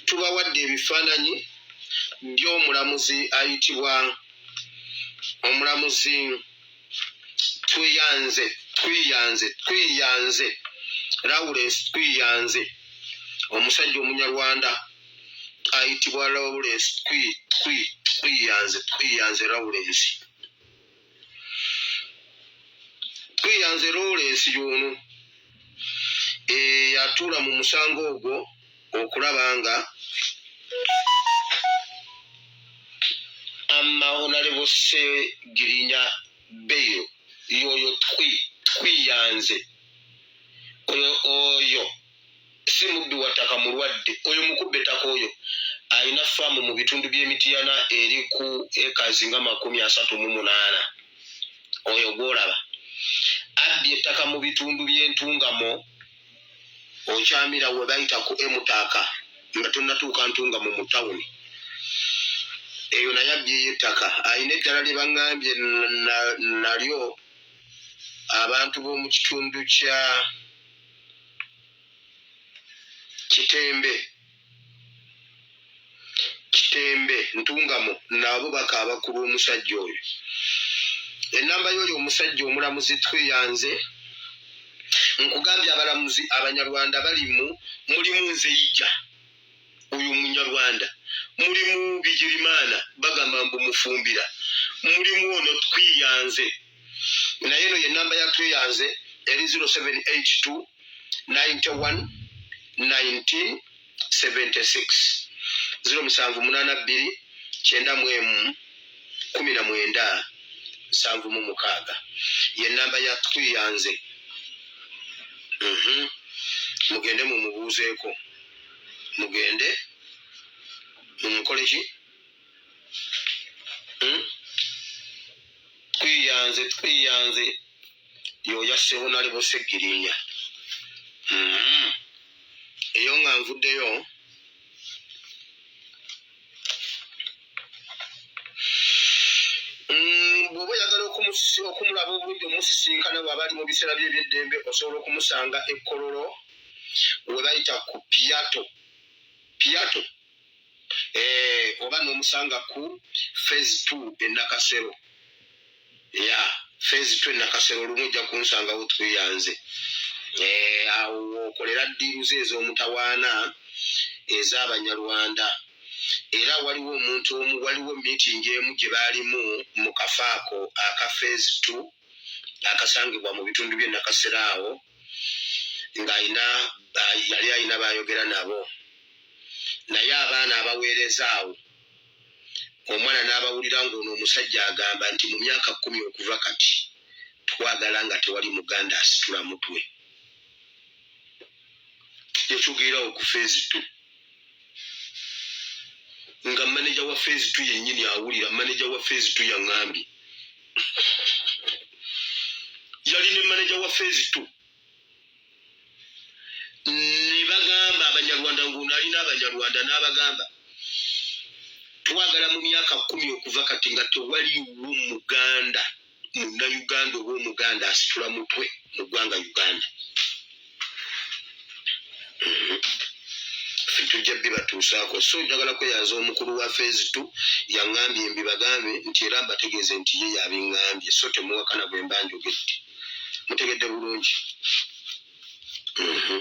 tubawadde ebifaananyi by'omulamuzi ayitibwa omulamuzi tweyanze tweyanze tweyanze lawrence tweyanze omusajja omunyarwanda ayitibwa lawrence tweyanze tweyanze lawrence tweyanze loolensi y'ono eyatuula eh, mu musango ogwo okulaba nga amahonalebo segirinya beyo yoyo twi twiyanze oyo oyo si mubbi wattaka mulwadde oyo mukubba ettaka oyo alina faamu mu bitundu by'emitiyana eri ku ekazi nga makumi asatu mu munaana oyo gwolaba abbye ettaka mu bitundu by'entungamo okyamira we bayita ku emutaaka nga tonnatuuka ntungamo mu tawuni eyo naye abbyeyo ettaka alina eddala lye baŋŋambye nalyo abantu b'omu kitundu kya na, na, na, kitembe kitembe ntungamo naabo bakaaba ku lw'omusajja oyo enamba yoyo omusajja omulamuzi tweyanze nkugambye abalamuzi abanyarwanda balimu mulimu nze ija oyo munyarwanda mulimu bigirimana bagamba mbu mufumbira mulimu ono twiyanze naye no yenamba ya twiyanze eri 0782 91 19 76 07 munana bbiri kyenda mu emu kumi na mwenda nsanvu mu mukaaga ye namba ya twiyanze mhm. mugende mumubuuzeeko mugende mumukole ki hmm? twiyanze twiyanze yoya sebonale bosegirinya hmm. eyo nga nvuddeyo bwoba oyagala okumulaba obulungi omusisinkana bwaba ali mu biseera bye ebyeddembe osobola okumusanga ekkololo gwe bayita ku piato piato eh, oba nomusanga ku phase t enakasero ya yeah. phase t enakasero olumu ojja kunsangawo tweyanze eh, awo okolera ddiiruze ez'omutawaana ez'abanyarwanda era waliwo omuntu omu waliwo miitingi emu gye baalimu mu kafaako aka phase t akasangibwa mu bitundu bye nakasera awo ng'alina yali alina baayogera nabo naye abaana abaweereza awo omwana n'abawulira ng'ono omusajja agamba nti mu myaka kumi okuva kati twagala nga tewali muganda asitula mutwe yetugera okufeezitu nga maneja wa fezi tu yennyini awulira maneja wa fezi tu yaŋambye yali ne maneja wa fezi tu ne bagamba abanyarwanda ngaonalina abanyarwanda n'abagamba twagala mu myaka kumi okuva kati nga tewaliwo muganda munnayuganda oba omuganda asitula mutwe mu ggwanga uganda mhm. tujja bibatuusaako so njagala kweyanza omukulu wa fezi t yaŋambye mbibagambe nti era mbategeeze nti ye yabiŋambye so temuwakana bwe mba njogedde mutegedde bulungi mhm.